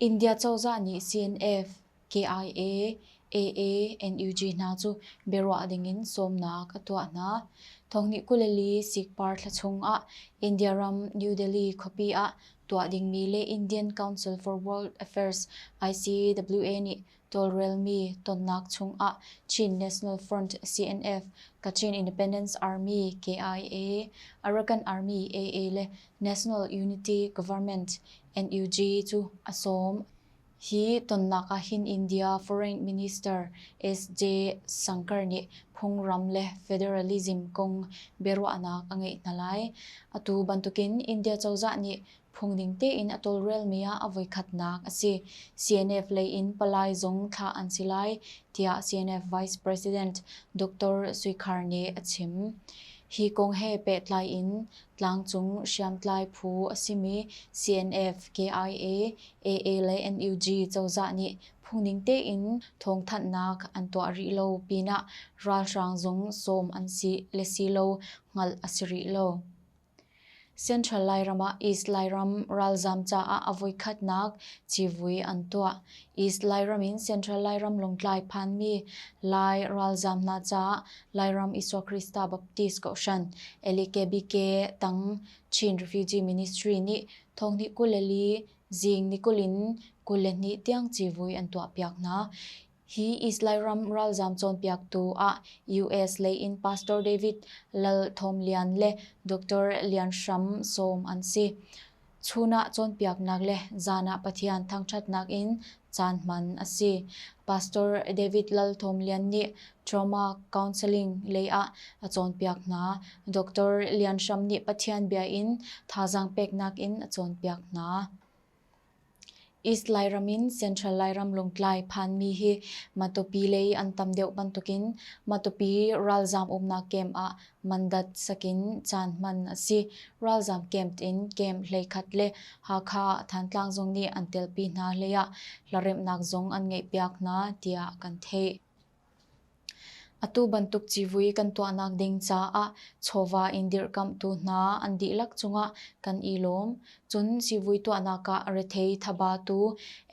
India cozah nih CNF, KIA, AA, NUG hna cu biaruah dingin sawmnak a tuah hna. Thawngnikkuleli sikpar thla chungah India ram New Delhi khuapi ah tuah dingmi le Indian Council for World Affairs ICWA nih tawlrelmi tonnak chungah Chin National Front, CNF, Kachin Independence Army, KIA, Arakan Army, AA, le National Unity Government, NUG, cu a sawm. Hi tonnak ah hin India Foreign Minister SJ Shankar nih phungram le federalism kong biaruahnak a ngeih hna lai. Atu bantukin India cozah nih phungning tein a tawlrelmi ah a voikhatnak a si. CNF lei in palai zong thlah an si lai, tiah CNF Vice President Doctor Sui Khar nih a chim. Hi kong he pehtlai in tlangcung hriamtlai phu a simi CNF, KIA, AA le NUG cozah nih phungning tein thawngthanhnak an tuah rih lo pinah ralhrang zong sawm an si le si lo hngalh a si rih lo. Central Lairam ah East Lairam ralzaam caah a voikhatnak civui an tuah. East Lairam in Central Lairam Lawngtlai phanmi Lai ralzaam hna caah Lairam Isua Krista Baptist Kohhran LEKBK tang Chin Refugee Ministry nih thonghnih kul le li zing ni kul in kul le hnih tiang civui an tuahpiak hna. Hi Israel ram ralzaam cawnpiaktu ah US lei in Pastor David Lal Thawm Lian le Doctor Lian Hram Sawm an si. Chun ah cawnpiaknak le zan ah Pathian thangṭhatnak in caan hman a si. Pastor David Lal Thawm Lian nih Trauma Counseling lei ah a cawnpiak hna. Doctor Lian Hram nih Pathian bia in thazaang peknak in a cawnpiak hna. East Lairam in Central Lairam Lawngtlai phanmi hi Matupi lei an tam deuh bantukin Matupi ralzaam umnak camp ah mandat sakin caan hman a si. Ralzaam camp in camp hleikhat le Hakha ah Thantlang zong nih an telpi hna hleiah hlaremhnak zong an ngeihpiak hna tiah kan theih. Atu bantuk civui kan tuahnak ding caah chawva in dirhkamhtu hna an dihlak cungah kan i lawm. Cun civui tuahnak ah rethei thaba tu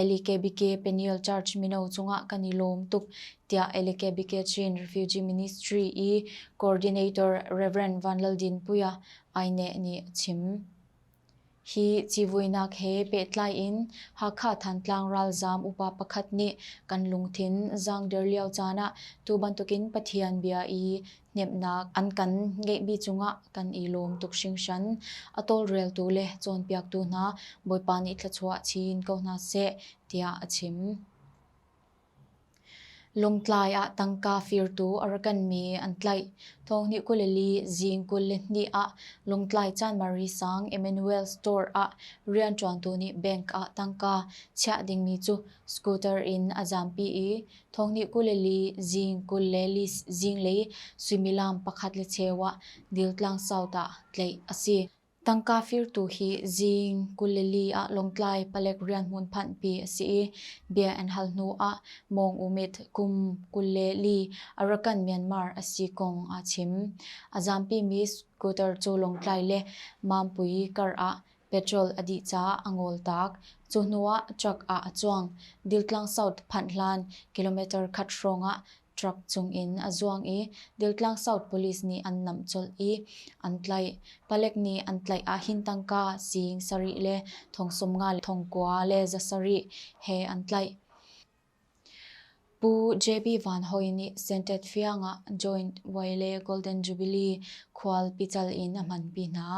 Elikebike Penal Church mino cungah kan i lawm tuk, tiah Elikebike Chin Refugee Ministry i Coordinator Rev. Van Lal Dinpuia, INEC, nih a chim. Hi civuinak he pehtlai in Hakha Thantlang ralzaam upa pakhat nih kan lungthin zaangder lio caan ah tu bantukin Pathian bia i hnemhnak an kan ngeihmi cungah kan i lawm tuk hringhran. A tawlreltu le cawnpiaktu hna Bawipa nih thluachuah chin ko hna seh tiah a chim. Lungtlai ah tangka firtu a rak kanmi an tlaih. Thawngnih kul le li zing kul le hnih ah Lungtlai Chanmari Sang Emmanuel Store ah rianṭuantu nih bank ah tangka chiah dingmi cu scooter in a zampi i thawngnih kul le li zing kul le li zinglei suimilam pakhat le cheu ah Diltlang South ah tlaih a si. Tangka firtu hi Zing, Galilee ah lawngtlai palek rianhmun phanhpi a si i bia an hal hnuah Mawng U Myit kum kul le li Arakan, Myanmar a si kong aa chim. A zampimi scooter cu lawngtlai le mampui kar ah petrol a dih caah a ngoltak. Cu hnuah truck ah a cuang. Diltlang South phanh hlan kilometer khat hrawngah truck chungin a zuang i Diltlang South Police nih an namh colh i an tlaih. Palek nih an tlaih ahhin tangka siing sarih le thong sawmnga le thong kua le za sarih he an tlaih. Pu JB Van Hoi nih Sentet Fiang ah Joint Waile Golden Jubilee khual pical in a hmanpi hna.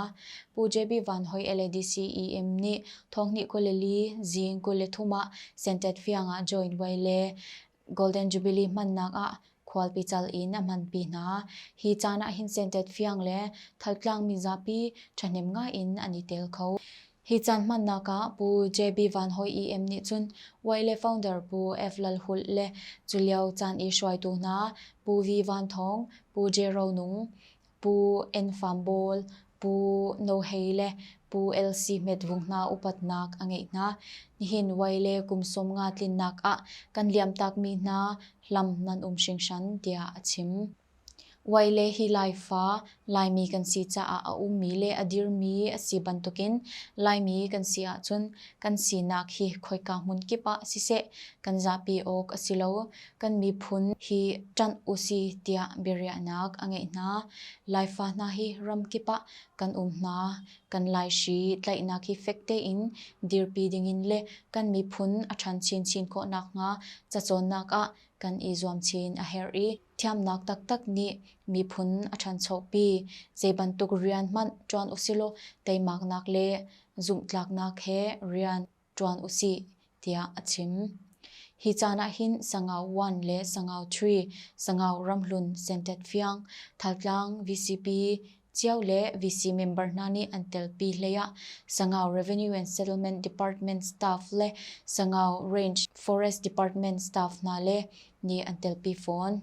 Pu JB Van Hoi LADCEM nih thonghni kul le li zing kul le thum ah Sentet Fiang ah Joint Waile Golden Jubilee hmannak ah khualpi cal in a hmanpi hna. Hi caan ah hin sentet fiang le thaltlaangmi zapi ṭhahnem ngai in an i tel kho. Hi caan hmannak ah Pu JB Van Hoi EM nih cun YLA founder Pu F Lal Hulh le culio caan i hruaitu hna Pu V Van Thawng, Pu J Ro Nung, Pu En Fam Bawl, Pu No Hei le Pu LC Hmet Vung hna upatnak a ngeih hna. Nihin Wai le kum sawm nga tlinnak ah kan liamtakmi hna hlam nan um hringhran, tiah a chim. Wai le hi Laifa, Laimi kan si caah a ummi le a dirmi a si bantukin Laimi kan si ahcun kan sinak hi khoika hmun kip ah siseh kan zahpi awk a si lo. Kan miphun hi ṭanh u si tiah biariahnak a ngeih hna. Laifa hna hi ram kip ah kan um hna. Kan Laishi tlaihnak hi fek tein dirpi dingin le kan miphun a ṭhan chinchin khawh nakhnga cacawnnak ah kan i zuam chin a herh i, thiamnak taktak nih miphun a ṭhanchopi. Zeibantuk rian hmanh ṭuan usilaw teimaknak le zumhtlaknak he rian ṭuan u sih, tiah a chim. Hi caan ah hin Sangau one le Sangau three, Sangau Ramhlun Sentet Fiang, Thaltlang VCP cio le VC member hna nih an telpi hlei ah Sangau Revenue and Settlement Department staff le Sangau Range Forest Department staff hna le nih an telpi fawn.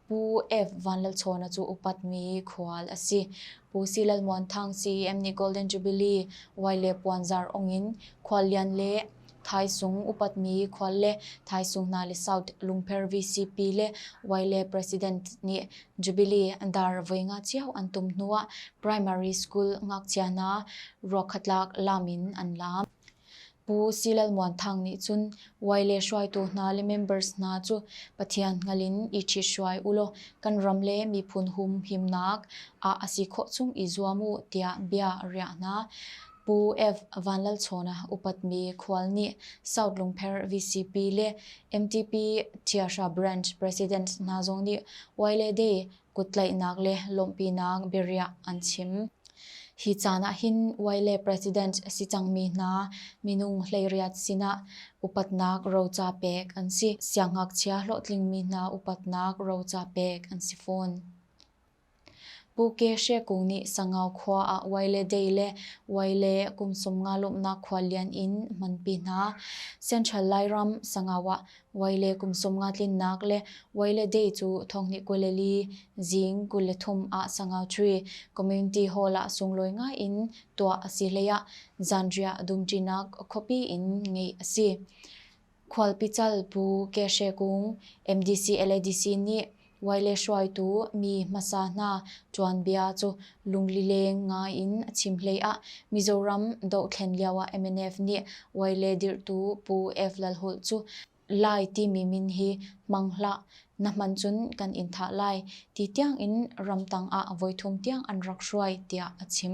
Pu F. Van Lal Chawna cu upatmi khual a si. Pu Si Lal Muan Thang CEM nih Golden Jubilee Vai le puanzar ong in Khuallian le Thaisung upatmi khual le Thaisung hna le South Lungpher VCP le Vai le President nih Jubilee dar voi nga cio an tum hnu ah Primary School ngakchia hna ruakhatlak lam in an laam. Pu Silalmuan Thang nih cun Wai le hruaitu hna le members hna cu Pathian hngal in i ṭhithruai u law kan ram le miphun humhimnak ah a si khawh chung i zuam u tiah bia a riah hna. Pu F. Vanlalchawna upatmi khual nih South Lungpher VCP le MTP Thiahra Branch Presidents hna zong nih Wai le Day kuttlaihnak le lawmhpinak biariah an chim. Hi caan ah hin uai le president a si cangmi hna minung hleiriat sinah upatnak roca pek an si. Siangngakchia hlawhtlingmi hna upatnak roca pek an si fawn. Pu Ke She Kung nih Sangau khua ah uai le dei le uai le kumsum nga lawmhnak khua lian in hmanpi hna. Central Lairam Sangau ah Voi le kum sawm nga tlinnak le voi le day cu thonghnih kul le li zing kul le thum ah sangau ṭhui community hall ah sunglawi ngai in tuah a si hlei ah zanriah dumṭinak khuapi in ngeih a si. Khualpi cal Pu Ke Hre Kung MDC LADC nih Wai le hruaitu mi hmasa hna tuanbia cu lunglileng ngai in a chim hlei ah Mizoram dohthlen lioah MNF nih Wai le dirhtu Pu F. Lalhulh cu Lai timi min hi hmang hlah, na hman cun kan in thah lai ti tiang in ramtang ah voithum tiang an rak hruai tiah a chim.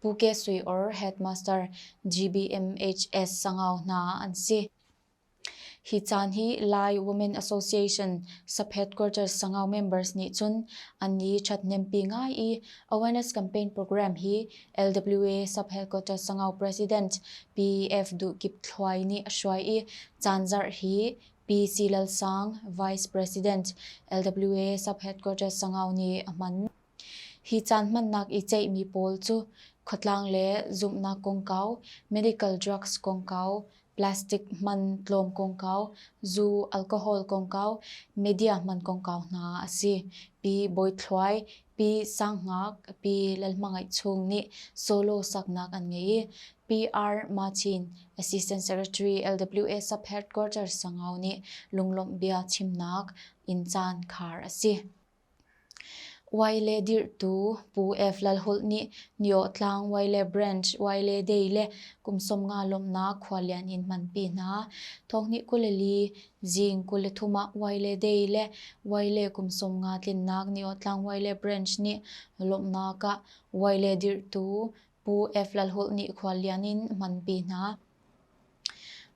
Pu Ke Sui or Headmaster GBMHS Sangau hna an si. Hi caan hi Lai Women Association Saphet Quarters Sangau members nih cun an ni ṭhatnempi ngai i awareness campaign program hi LWA Saphet Quarters Sangau President PEF Duh Kip Thluai nih a hruai i caan zarh hi Pi Si Lal Sang Vice President LWA Saphet Quarters Sangau nih a hman. Hi caan hmannak i ceihmi pawl cu khuatlang le zumhnak kongkau, medical drugs kongkau, plastic hman tlawm kongkau, zu alcohol kongkau, media hman kongkau hna a si. Pi Bawi Thluai, Pi Sang Ngak, Pi Lal Hmangaih Chung nih solo saknak an ngei i Pi R. Martin, Assistant Secretary LWS of Headquarters Sangau nih lunglawmh bia chimnak in caan khar a si. Wai le dirhtu Pu F. Lalhulh nih Nio Tlang Wai le Branch Wai le Dei le kum sawm nga lawmhnak khualian in hmanpi hna. Thawngnih kul le li zing kul le thum ah Wai le Dei le Wai le kum sawm nga tlinnak Nio Tlang Wai le Branch nih lawmhnak ah Wai le dirhtu Pu F. Lalhulh nih khualian in hmanpi hna.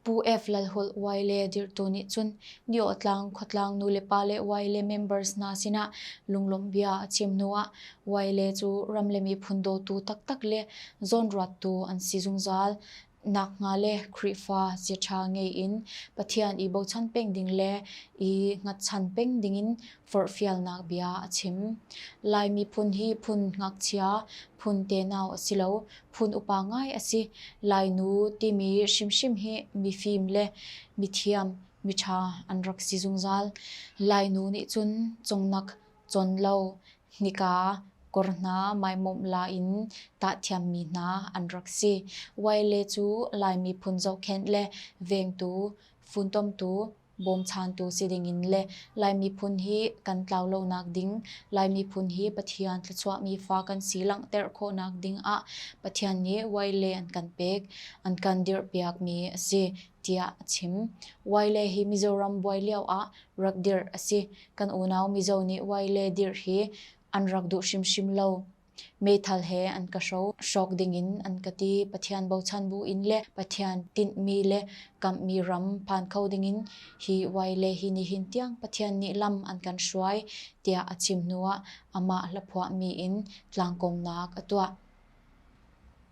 Pu F. Lalhulh Wai le dirhtu nih cun Niawhtlang khuatlang nulepa le Wai le members hna sinah lunglawmhbia a chim hnuah Wai le cu ram le miphun dawtu taktak le zawnruattu an si zungzal. Nakhnga le Khrihfa chiaṭha ngei in Pathian i bochan peng ding le i hngatchan peng dingin forhfialnak bia a chim. Lai miphun hi phun ngakchia, phun tenau a si lo, phun upa ngai a si. Lainu timi hrimhrim hi mifim le mithiam, miṭha an rak si zungzal. Lainu nih cun cungnak cawn lo, nika kor hna maimawmh la in tahthiammi hna an rak si. Wyle cu Lai miphun zohkhenh le vengtu, funtomtu, bawmchantu si dingin le Lai miphun hi kan tlau lonak ding, Lai miphun hi Pathian thluachuahmi fa kan si langhter khawhnak dingah Pathian nih Waile an kan pek, an kan dirhpiakmi a si, tiah a chim. Waile hi Mizoram buai lioah rak dirh a si. Kan unau Mizo nih Waile dirh hi an rak duh hrimhrim lo. Meithal he an ka hro. Hrawk dingin an ka ti. Pathian bochan buin le Pathian tinhmi le kamhmi ram phan kho dingin hi vai le hi nihin tiang Pathian nih lam an kan hruai, tiah a chim hnuah amah hla phuahmi in tlangkongnak a tuah.